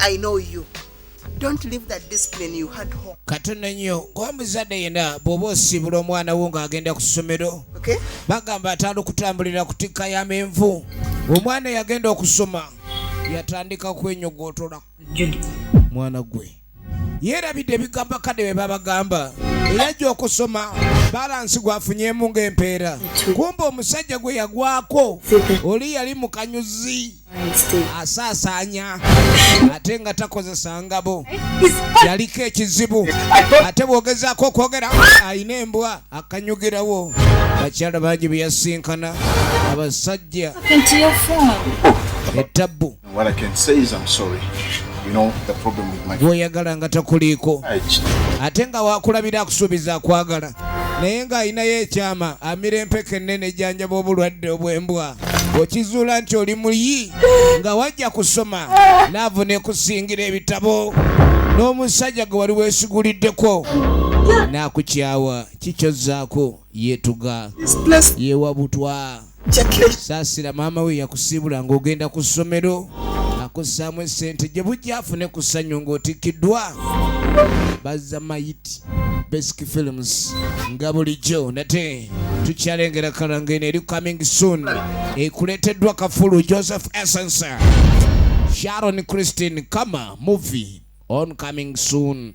I know you. Don't leave that discipline you had home. Katono nnyo ng'omuzadde yenna bw'oba osiibula omwana wo ng'agenda ku ssomero okay? bagamba atandika okutambulira ku tikka ya menvu omwana yagenda okusoma yatandika kwenyogootola mwana gwe yeerabidde ebigambo akadde bye babagamba era ajja okusoma balansi gwafunyemu ng'empeera kumba omusajja gwe yagwako oli yali mu kanyuzi asaasaanya ate nga takozesa ngabo yaliko ekizibu ate bwogezaako okwogera alina embwa akanyugirawo bakyala bangi beyasinkana abasajja etabbu gwoyagala nga takuliiko ate nga wakulabira akusuubiza akwagala naye ng'alinayo ekyama amira empeke ennene ejjanjaba obulwadde obw'embwa okizuula nti oli muyi nga wajja kusoma laavu nekusingira ebitabo n'omusajja gwe wali weesiguliddeko n'akukyawa kikyozaako yetuga yewabutwa saasira maama we yakusiibula ng'ogenda ku ssomero akussaamu essente gye bujja afune ku ssanyu ng'otikkiddwa bazza mayiti basic films nga bulijjo nate tukyalengera kalanga eno eri coming soon ekuleeteddwa kafulu joseph essence sharon christine kama movie on coming soon